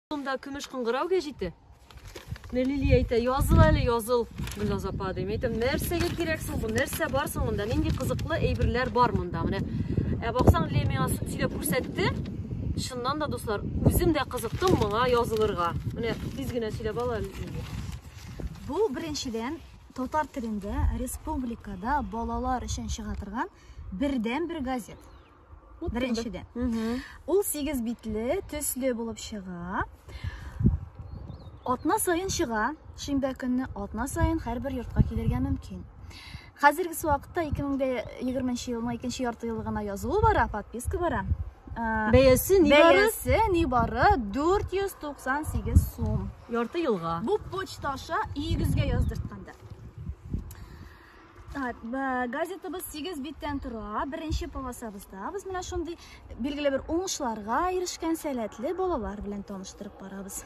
Кулымда көмеш кыңгырау гәҗите. Менә Лилия әйтә, языл әле, языл, Гөлназ апа, дим. Әйтәм, нәрсәгә кирәк соң бу, нәрсә бар соң монда, нинди кызыклы әйберләр бар монда, менә. Ә баксаң, Лилия миңа сөйләп күрсәтте. Шыннан да, дуслар, үзем дә кызыктым моңа язылырга. Менә тиз генә сөйләп ала Лилия. Бу беренчедән татар телендә республикада балалар өчен чыга торган бердән-бер газет. Беренчедә. Ул 8 битле, төсле булып чыга. Атна саен чыга, шимбә көнне атна саен һәрбер йортка килергә мөмкин. Хәзерге вакытта 2020 елның икенче ярты еллыгына язылу бара, подписка бара. Бәясе ни бары? Бәясе ни бары 498 сум. Ярты елга. Бу почта аша өегезгә яздыртканда. газетабыз сигез биттән тора беренче полосабызда без менә шундый билгеле бер уңышларга ирешкән сәләтле балалар белән таныштырып барабыз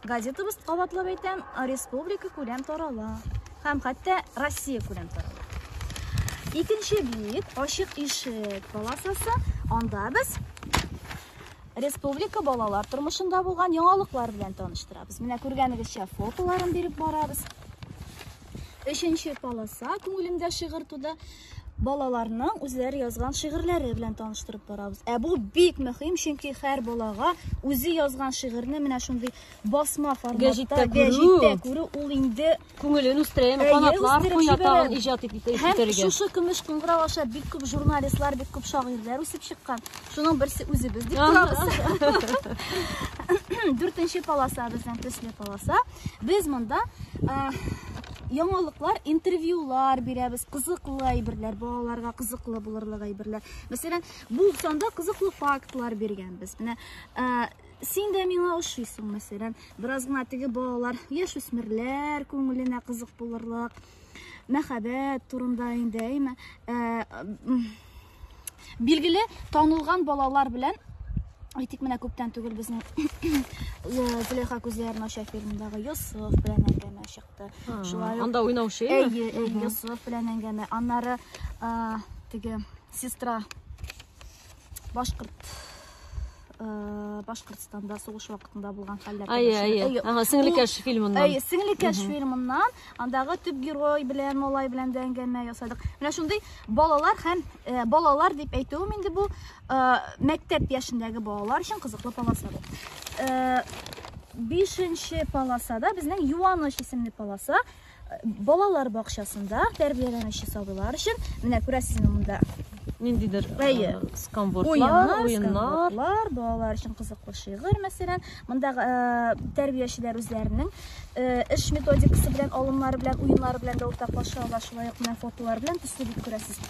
газетабыз кабатлап әйтәм республика күләм тарала һәм хәтта россия күләм тарала икенче бит ачык ишек полосасы анда без республика балалар тормышында булган яңалыклар белән таныштырабыз менә күргәнегезчә фотоларын биреп барабыз Өченче полоса күңелемдә шигырь туды. Балаларның үзләре язган шигырьләре белән таныштырып барабыз. Ә бу бик мөһим, чөнки һәр балага үзе язган шигырьне менә шундый басма форматта гәҗиттә күрү, күрү ул инде күңелен үстерә, канатлар куя тагын иҗат итеп үстерергә. Һәм шушы көмеш кыңгырау аша бик күп журналистлар, бик күп шагыйрьләр үсеп чыккан. Шуның берсе үзебез дип торабыз. Дүртенче полоса безнең төсле полоса. Без монда яңалыклар, интервьюлар бирәбез, кызыклы әйберләр, балаларга кызыклы булырлык әйберләр. Мәсәлән, бу санда кызыклы фактлар биргәнбез. Менә син дә миңа ошыйсың мәсәлән бераз гына теге балалар яшүсмерләр күңеленә кызык булырлык мәхәббәт турында инде әйме билгеле танылган балалар белән әйтик менә күптән түгел безнең зөләйха күзләрен ача фильмындагы йосыф белән әңгәмә чыкты шулай анда уйнаучы әйе йосыф белән әңгәмә аннары теге сестра башкорт башкортстанда сугыш вакытында булган хәлләр әйе әйе ага сеңлекәш фильмыннан әйе сеңлекәш фильмыннан андагы төп герой белән малай белән дә әңгәмә ясадык менә шундый балалар һәм балалар дип әйтүем инде бу мәктәп яшендәге балалар өчен кызыклы полоса бу бишенче полосада безнең юаныч исемле полоса Балалар бакчасында тәрбияләнүче сабыйлар өчен менә күрәсезме монда ниндидер э, скамвордлар, уеннар, балалар өчен кызыклы шигырь, мәсәлән, мондагы э, тәрбиячеләр үзләренең э, эш методикасы белән, алымнары белән, уеннары белән дә уртаклаша ала, шулай ук менә фотолар белән төсле дип күрәсез.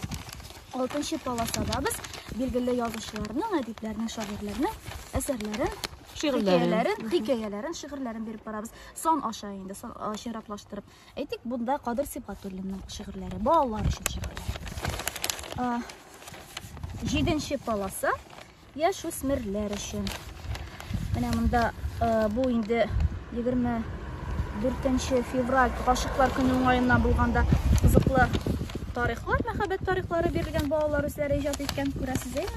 Алтынчы полосада без билгеле язучыларның, әдипләрнең, шагыйрьләрнең әсәрләрен шигырьләрен, хикәяләрен, шигырьләрен биреп барабыз. Сан аша инде, сан чиратлаштырып. Әйтик, бунда Кадыр Сибгатуллинның шигырьләре, балалар өчен шигырьләр. Җиденче паласа яшь үсмерләр өчен. Менә монда бу инде 24 февраль гашыклар көне уңаеннан булганда кызыклы тарихлар, мәхәббәт тарихлары бирелгән балалар үзләре иҗат иткән, күрәсез, әйме?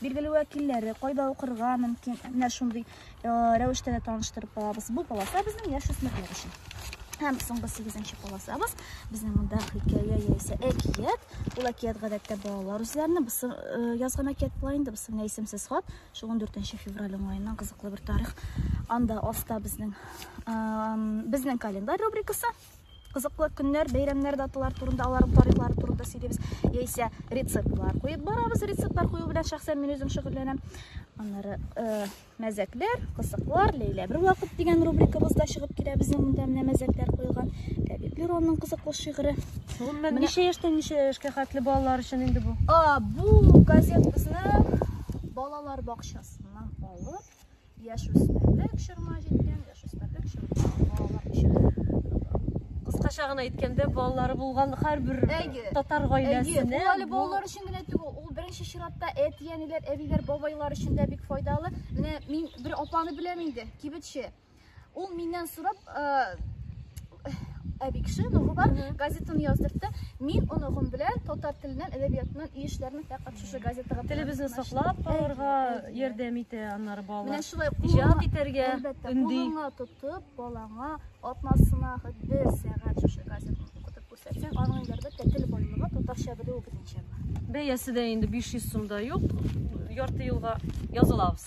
Билгеле вәкилләре, кайда укырга мөмкин, менә шундый рәвештә дә таныштырып алабыз. Бу полоса безнең яшүсмерләр өчен. Һәм соңгы 8-нче полосабыз безнең монда хикәя яисә әкият. Ул әкият гадәттә балалар үзләренә бысы язган әкият була инде, бысы менә исемсез хат. Шул 14 февраль уңаеннан кызыклы бер тарих. Анда аста безнең безнең календарь рубрикасы. кызыклы көннәр, бәйрәмнәр, даталар турында, аларның тарихлары турында сөйлибез. Яисә рецептлар куеп барабыз. Рецептлар кую белән шәхсән мин үзем шөгыльләнәм. Аннары э, мәзәкләр, кызыклар, Ләйлә бер вакыт дигән рубрикабыз да чыгып килә. Безнең монда менә мәзәкләр куелган. Ләбиб Леронның кызыклы шигыре. Гомумән, ничә яшьтән ничә яшькә хәтле балалар өчен инде бу? А, бу газет безнең балалар бакчасыннан алып Яшүсмерлек чорыма җиткән, яшүсмерлек чорыма балалар өчен. Кыскача гына әйткәндә, балалары булган һәрбер татар гаиләсенә. Ул әле балалар өчен генә түгел, ул беренче чиратта әти-әниләр, әбиләр, бабайлар өчен дә бик файдалы. Менә мин бер апаны беләм инде, кибетче. Ул миннән сорап, әби кеше оныгы бар газетаны яздыртты мин оныгым белән татар теленнән әдәбиятыннан ие эшләрне фәкать шушы газетага телебезне саклап калырга ярдәм итә аннары балалар менә шулай иҗат итәргә өнди кулыңа тотып балаңа атнасына хет бер сәгать шушы газетаны укытып күрсәтсәң аның әлбәттә тел байлыгы татарча белүе бөтенчә бар бәясе дә инде 500 сумда юк ярты елга язылабыз